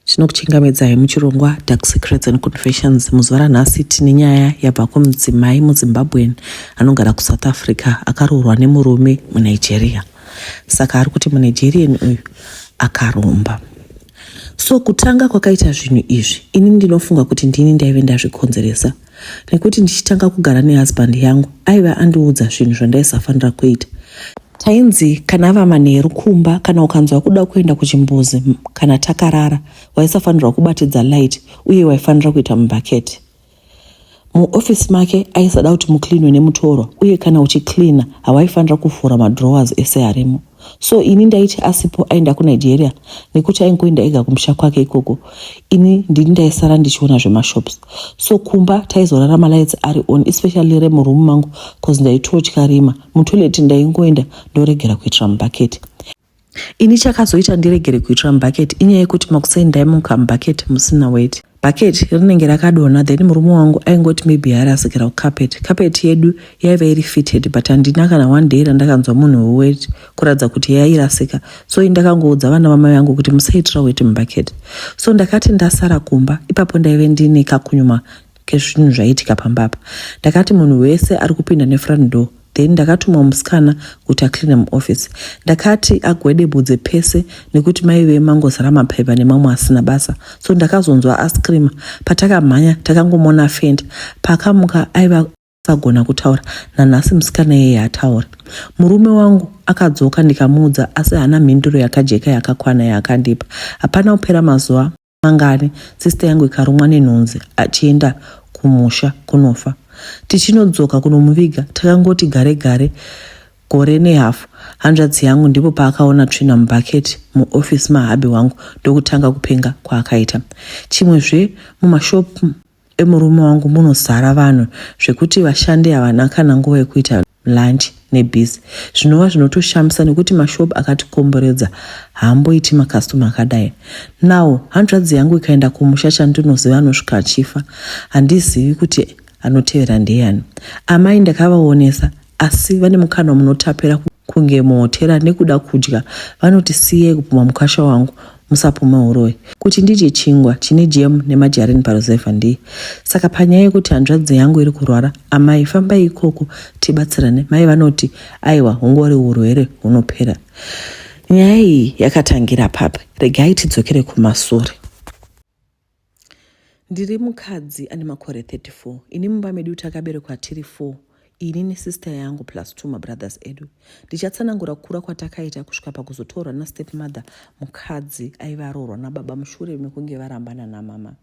Tinokuchingamidzai muchirongwa Dark Secrets and Confessions. Muzuva ranhasi tine nyaya yabva kumudzimai muZimbabwean anogara kuSouth Africa akaroorwa nemurume muNigeria. Saka ari kuti muNigerian uyu akaromba. So kutanga kwakaita zvinhu izvi, ini ndinofunga kuti ndini ndaive ndazvikonzeresa. nekuti ndichitanga kugara nehusband yangu aive andiudza zvinhu zvandaisafanira kuita tainzi kana ava manheru kumba kana ukanzwa kuda kuenda kuchimbuzi kana takarara waisafanirwa kubatidza light uye waifanira kuita mubhaketi muofisi make aisada kuti mucleanwe nemutorwa uye kana uchicleana hawaifanira kuvhura madrowers ese arimo so ini ndaiti asipo aenda kunigeria nekuti aingoenda ega kumusha kwake ikoko ini ndini ndaisara ndichiona zvemashops so kumba taizorara malights ari on especially remuroom mangu bcause ndaitotya rima mutoilet ndaingoenda ndoregera kuitira mubhaketi ini chakazoita ndiregere kuitira mubhaketi inyaya yekuti makuseni ndaimuka mubhaketi musina weti bucket rinenge rakadonha then murume wangu aingoti maybe yarasikira kucarpet carpet yedu yaiva iri fitted but handina kana one day randakanzwa munhu wewet kuratidza kuti yairasika so i ndakangoudza vana vamai vangu kuti musaitira wet mubucket so ndakati ndasara kumba ipapo ndaive ndiine kakunyuma kezvinhu zvaiitika pamba apa ndakati munhu wese ari kupinda nefront door then ndakatumwa musikana kuti acleane muoffice ndakati agwedebudze pese nekuti maive mangozara maphepha nemamwe asina basa so ndakazonzwa ascreama patakamhanya takangomona fenda paakamuka aiva sagona kutaura nanhasi musikana yeye hatauri murume wangu akadzoka ndikamuudza asi haana mhinduro yakajeka yakakwana yaakandipa hapana kupera mazuva mangani sister yangu ikarumwa nenhunzi achienda kumusha kunofa tichinodzoka kunomuviga takangoti gare gare gore nehafu hanzvadzi yangu ndipo paakaona tsvina mubhaketi muofisi mahabhi wangu ndokutanga kupenga kwaakaita chimwe zve mumashopu emurume wangu munozara vanhu zvekuti vashandi havana kana nguva yekuita lunch nebhizi zvinova zvinotoshamisa nekuti mashop akatikomboredza haamboiti makastoma akadai now hanzvadzi yangu ikaenda kumusha chandinoziva anosvika achifa handizivi kuti anotevera ndeyani amai ndakavaonesa asi vane mukana munotapira kunge muhotera nekuda kudya vanoti siyai kupumha mukwasha wangu musapumhe huroyi kuti ndidye chingwa chine jemu nemajarini paruzevha ndiye saka panyaya yekuti hanzvadzi yangu iri kurwara amai fambai ikoko tibatsirane mai vanoti aiwa hungori urwere hunopera nyaya iyi yakatangira papi regai tidzokere kumasure Ndiri mukadzi ane makore 34. Ini mumba medu takaberekwa tiri 4 ini nesister yangu plus two mabrothers edu. Ndichatsanangura kukura kwatakaita kusvika pakuzotorwa nastep mother mukadzi aiva aroorwa nababa mushure mekunge varambana namama.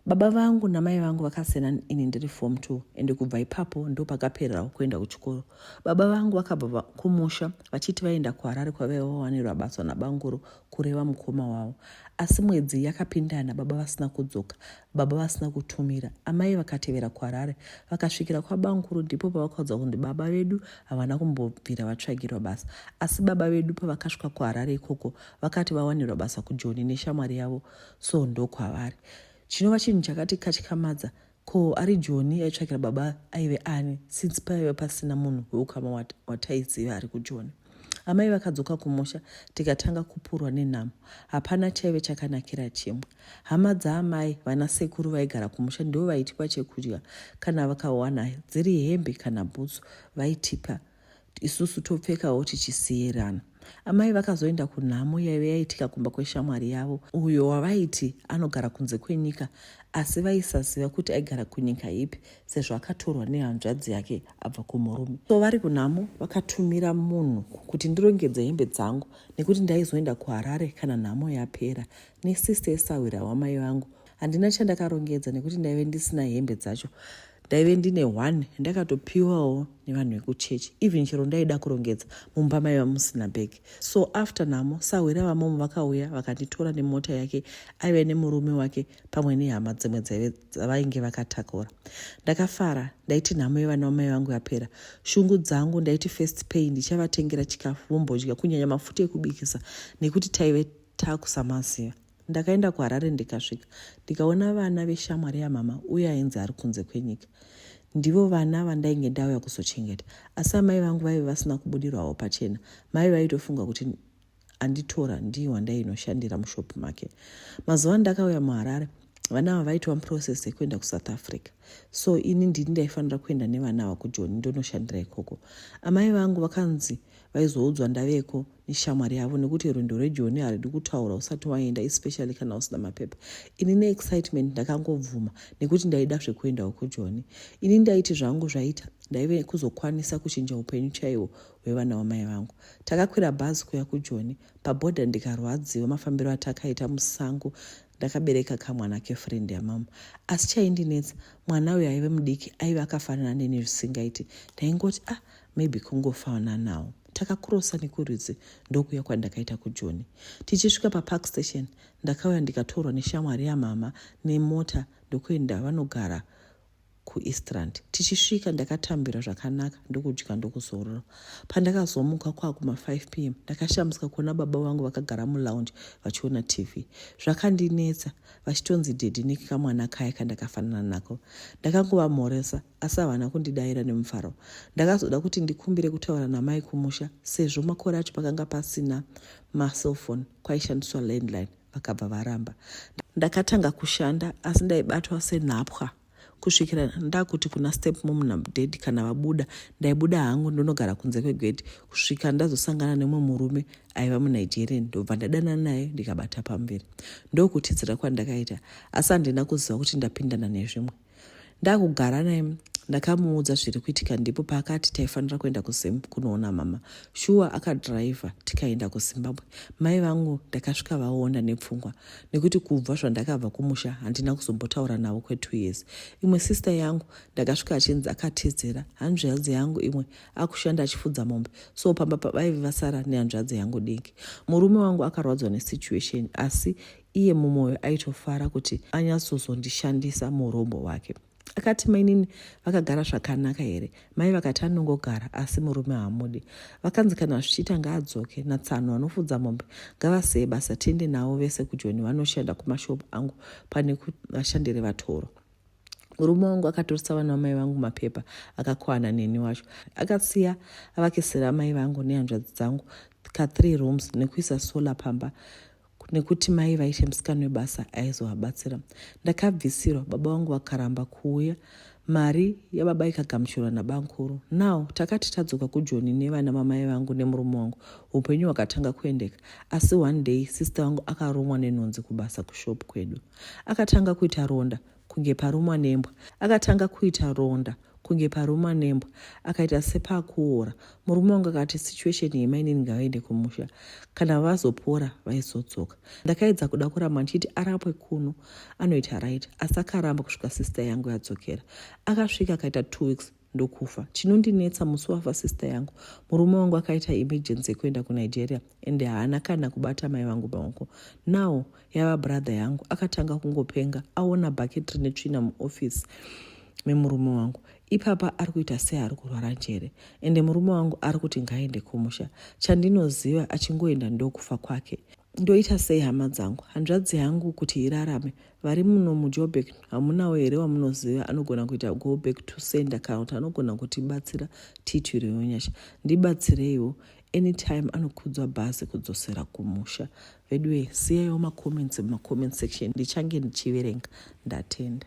Baba vangu namai vangu vakasiyana ini ndiri form two ende kubva ipapo ndo pakapererawo kuenda kuchikoro. Baba vangu vakabva kumusha vachiti vaenda kuharare kwavaiva vawanirwa basa nabanguru kureva mukoma wavo asi mwedzi yakapindana baba vasina kudzoka baba vasina kutumira amai vakatevera kuharare vakasvikira kwabamukuru ndipo pavakaudza kunzi baba vedu havana kumbobvira vatsvagirwa basa asi baba vedu pavakasvika kuharare ikoko vakati vawanirwa basa kujoni neshamwari yavo so ndokwavari chinova chinhu chakati katyamadza Ko ari Joni aitsvakira baba aive ani since paive pasina munhu weukama wataiziva ari kuJoni. Amai vakadzoka kumusha tikatanga kupurwa nenhamo. Hapana chaive chakanakira chimwe. Hama dzaamai vana sekuru vaigara kumusha ndivo vaitipa chekudya kana vakawana dziri hembe kana bhutsu vaitipa isusu topfekawo tichisiirana amai vakazoenda kunhamo yaive yaitika kumba kweshamwari yavo uyo wavaiti anogara kunze kwenyika asi vaisaziva kuti aigara kunyika ipi sezvo akatorwa nehanzvadzi yake abva kumurume so vari kunhamo vakatumira munhu kuti ndirongedze hembe dzangu nekuti ndaizoenda kuharare kana nhamo yapera nesista yesahwira wamai vangu handina chandakarongedza nekuti ndaive ndisina hembe dzacho ndaive ndine one ndakatopiwawo nevanhu vekuchechi even chero ndaida kurongedza mumba maiva musina bag so after namo sahwira vamomo vakauya vakanditora nemota yake aive nemurume wake pamwe nehama dzimwe dzaive dzavainge vakatakura ndakafara ndaiti nhamo yevana vamai vangu yapera shungu dzangu ndaiti first pay ndichavatengera chikafu vombodya kunyanya mafuta ekubikisa nekuti taive takusamaziva Ndakaenda kuHarare ndikasvika ndikaona vana veshamwari yamama uye ainzi ari kunze kwenyika. Ndivo vana vandainge ndauya kuzochengeta, asi amai vangu vaive vasina kubudirwawo pachena. Mai vaitofunga kuti anditora ndiye wandainoshandira mushopu make. Mazuva andakauya muHarare, vana ava vaitova muprocess yekuenda kusouth africa so ini ndini ndaifanira kuenda nevana ava kujoni ndonoshandira ikoko amai vangu vakanzi vaizoudzwa ndaveko neshamwari yavo nekuti rwendo rwejoni haridi kutaura usati waenda especially kana usina mapepa ini neexcitement ndakangobvuma nekuti ndaida zvekuendawo kujoni ini ndaiti zvangu zvaita ndaive kuzokwanisa kuchinja upenyu chaiwo hwevana wamai vangu takakwira bhazi kuya kujoni pabhodha ndikarwadziwa mafambiro atakaita musango ndakabereka kamwana kefriend yamama asi chaindinetsa mwana uyo aive mudiki aive akafanana neni zvisingaiti ndaingoti ah maybe kungofananawo takakurosa nekurudzi ndokuya kwandakaita kujoni tichisvika papark station ndakauya ndikatorwa neshamwari yamama nemota ndokuenda vanogara kueastrand tichisvika ndakatambira zvakanaka ndokudya ndokuzorora pandakazomuka kwakuma 5 p m ndakashamisika kuona baba vangu vakagara mulounge vachiona tv zvakandinetsa vachitonzi dedi nekamwana kaya kandakafanana nako ndakangovamhoresa asi havana kundidaira nemufaro ndakazoda kuti ndikumbire kutaura namai kumusha sezvo makore acho pakanga pasina macellphone kwaishandiswa landline vakabva varamba ndakatanga kushanda asi ndaibatwa senhapwa kusvikira ndakuti kuna step mom nadad kana vabuda ndaibuda hangu ndonogara kunze kwegedhi kusvika ndazosangana nemwe murume aiva munigerian ndobva ndadana naye ndikabata pamberi ndokutidzira kwandakaita asi handina kuziva kuti ndapindana nezvimwe ndakugara naye ndakamuudza zviri kuitika ndipo paakati taifanira kuenda kuzim kunoona mama shuwa akadhiraivha tikaenda kuzimbabwe mai vangu ndakasvika vaonda nepfungwa nekuti kubva zvandakabva kumusha handina kuzombotaura navo kwetwo years imwe sister yangu ndakasvika achinzi akatizira hanzvadzi yangu imwe akushanda achifudza mombe so pamba pavaive vasara nehanzvadzi yangu diki murume wangu akarwadzwa nesituation asi iye mumwoyo aitofara kuti anyatsozondishandisa muurombo hwake akati mainini vakagara zvakanaka here mai vakati anongogara asi murume haamudi vakanzi kana zvichiita ngaadzoke natsano vanofudza mombe ngavaseye basa tiende navo vese kujoni vanoshanda kumashopu angu pane kuvashandiri vatoro murume wangu akatorisa vana vamai vangu mapepa akakwana neni wacho akasiya avakisira amai vangu nehanzvadzi dzangu ka3 rooms nekuisa solar pamba nekuti mai vaishe musikana webasa aizovabatsira ndakabvisirwa baba vangu vakaramba kuuya mari yababa ikagamuchirwa nabankuru now takati tadzoka kujoni nevana vamai vangu nemurume wangu upenyu hwakatanga kuendeka asi one day sister vangu akarumwa nenhunzi kubasa kushop kwedu akatanga kuita ronda kunge parumwa nembwa akatanga kuita ronda kunge parumwa nembwa akaita sepakuora murume wangu akati situation yemainini ngavaende kumusha kana vazopora vaizodzoka ndakaedza kuda kuramba ndichiti arapwe kuno anoita right asi akaramba kusvika sister yangu yadzokera akasvika akaita two weeks ndokufa chinondinetsa musi wafa sister yangu murume wangu akaita emergency yekuenda kunigeria and haana kana kubata mai vangu maoko now yava brother yangu akatanga kungopenga aona bucket rine tsvina muoffice memurume wangu ipapa ari kuita sei ari kurwara njere ende murume wangu ari kuti ngaende kumusha chandinoziva achingoenda ndokufa kwake ndoita sei hama dzangu hanzvadzi yangu kuti irarame vari muno mujobek hamunawo here wamunoziva anogona kuita go back to sender kana kuti anogona kutibatsira tiitwire yonyasha ndibatsireiwo anytime anokudzwa bhazi kudzosera kumusha veduwe siyaiwo macomments mumacomments section ndichange ndichiverenga ndatenda